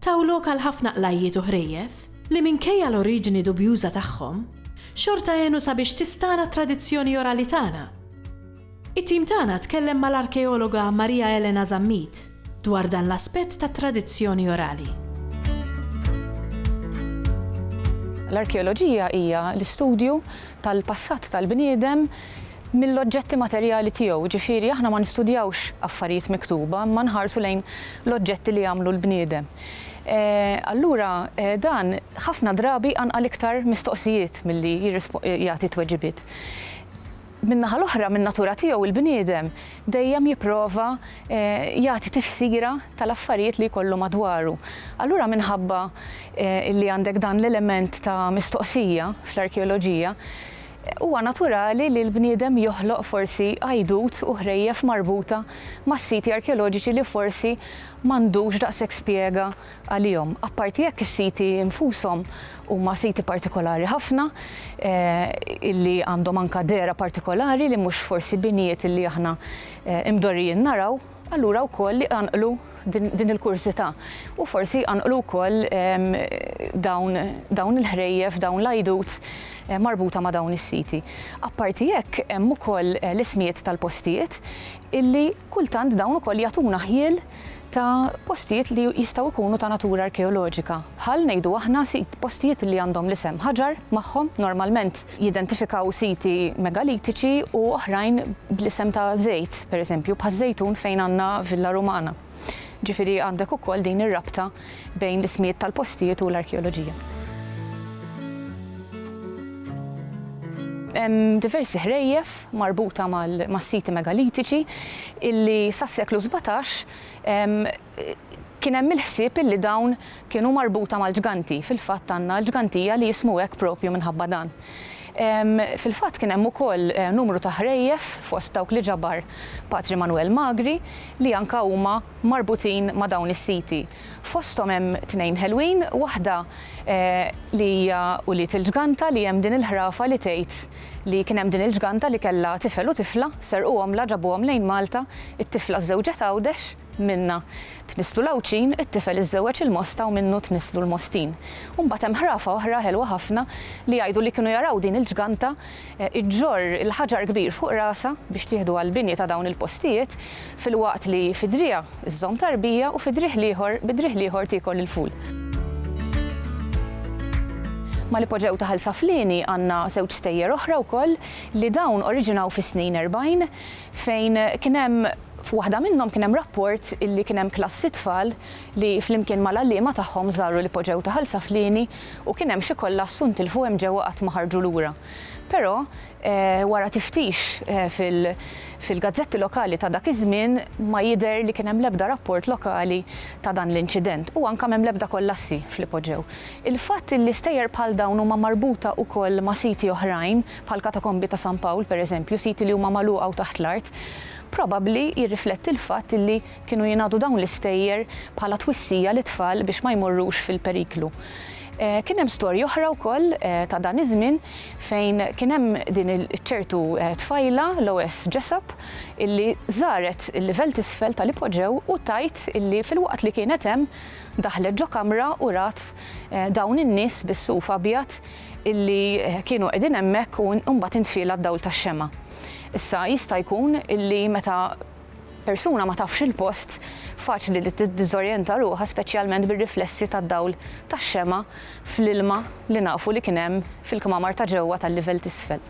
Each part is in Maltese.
taw lok għal ħafna qlajjiet u ħrejjef li minkejja l-oriġini dubjuża tagħhom, xorta għenu sabiex tistagħna t-tradizzjoni orali tagħna. It-tim tagħna tkellem mal-arkeologa Maria Elena Zammit dwar dan l-aspett tat-tradizzjoni orali. L-arkeoloġija hija l-istudju tal-passat tal-bniedem, mill-oġġetti materjali tiegħu, jiġifieri aħna ma nistudjawx affarijiet miktuba imma nħarsu lejn l-oġġetti li għamlu l-bniedem. Allura dan ħafna drabi jqanqal iktar mistoqsijiet milli jagħti tweġibiet. Min-naħa l-oħra, min-natura tiegħu il-bniedem dejjem jipprova jagħti tifsira tal-affarijiet li jkollu madwaru. Allura minħabba li għandek dan l-element ta' mistoqsija fl-arkeoloġija, Huwa naturali li l-bniedem joħloq forsi għajdut u ħrejjef marbuta ma' siti arkeoloġiċi li forsi m'għandux daqshekk spjega għalihom. Apparti jekk is-siti nfushom huma siti partikolari ħafna illi għandhom anka dehra partikolari li mhux forsi binjiet illi aħna mdorrijin naraw, allura wkoll iqanqlu din il-kurżità u forsi jqanqlu wkoll dawn il-ħrejjef, dawn l-għajdut marbuta ma' dawn is-siti. Apparti hekk hemm ukoll l-ismijiet tal-postijiet illi kultant dawn ukoll jagħtuna ħjiel ta' postijiet li jistgħu jkunu ta' natura arkeoloġika bħal ngħidu aħna postijiet li għandhom l-isem ħaġar magħhom normalment jidentifikaw siti megalitiċi u oħrajn bl-isem ta' żejt, pereżempju, bħaż-Żejtun fejn għandna Villa Rumana. Ġifieri għandek ukoll din ir-rabta bejn l-ismijiet tal-postijiet u l-arkeoloġija. Hemm diversi ħrejjef marbuta mas-siti megalitiċi illi sas-seklu sbatax kien hemm il-ħsieb illi dawn kienu marbuta mal-ġganti, fil-fatt għandna l-ġgantija li jismu hekk propju minħabba dan. Fil-fatt kien hemm ukoll numru ta' ħrejjef fost dawk li ġabar Patri Manwel Magri li anka huma marbutin ma' dawn is-siti. Fosthom hemm tnejn ħelwin, waħda li hija Ulied il-Ġganta li hemm din il-ħrafa li tgħid li kien hemm din il-ġganta li kellha tifel u tifla, serquhomlha ġabuhom lejn Malta, it-tifla żżewġet Għawdex, Minnha tnisslu l-Għawdxin, it-tifel iżżewweġ il-Mosta u minnu tnisslu l-Mostin. U mbagħad hemm ħrafa oħra ħelwa ħafna li jgħidu li kienu jaraw din il-ġganta ġġorr il-ħaġar kbir fuq rasha biex tieħdu għall-bini ta' dawn il-postijiet filwaqt li fi driegħa żżomm tarbija u fi driegħ l-ieħor bi driegħ l-ieħor tiekol il-ful. Mal-ipoġew ta' Ħal Saflieni għandna żewġ stejjer oħra wkoll li dawn oriġinaw fis-snin erbgħin fejn kien hemm F'waħda minnhom kien hemm rapport li kien hemm klassi tfal li flimkien mal-għalliema tagħhom żaru li poġġew ta' Ħal Saflieni u kien hemm xi kollassu ntilfu hemm ġewwa qatt ma ħarġu lura. Però wara tiftix fil-gazzetti lokali ta' dak iż-żmien ma jidher li kien hemm l-ebda rapport lokali ta' dan l-inċident u anke m'hemm l-ebda kollassi f'li poġġew. Il-fatt li stejjer bħal dawn huma marbuta wkoll ma' siti oħrajn, bħall-Katakombi ta' San Pawl, per eżempju, siti li huma magħluqa u taħt l-art, probabbli jirrifletti l-fatt li kienu jingħadu dawn l-istejjer bħala twissija lit-tfal biex ma jmorrux fil-periklu. Kien hemm storja oħra wkoll ta' dan iż-żmien fejn kien hemm din iċ-ċertu tfajla, Loes Jessup, illi żaret il-livell t'isfel tal-ipoġew u tgħid illi filwaqt li kienet hemm, daħlet ġo kamra u rat dawn in-nies bis-suf abjad illi kienu qegħdin hemmhekk u mbagħad intfiela d-dawl tax-xemgħa. Issa jista' jkun illi meta persuna ma tafx il-post, faċli li tiddiżorjenta ruħha speċjalment bir-riflessi tad-dawl tax-xemgħa fl-ilma li nafu li kien hemm fil-kmamar ta' ġewwa tal-livell t'isfel.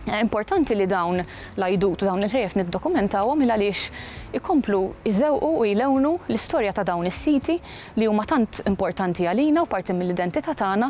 Importanti li dawn l-għajdut u dawn il-ħrejjef niddokumentawhom il-għaliex ikomplu jżewqu u jlewnu l-istorja ta' dawn is-siti li huma tant importanti għalina u parti mill-identità tagħna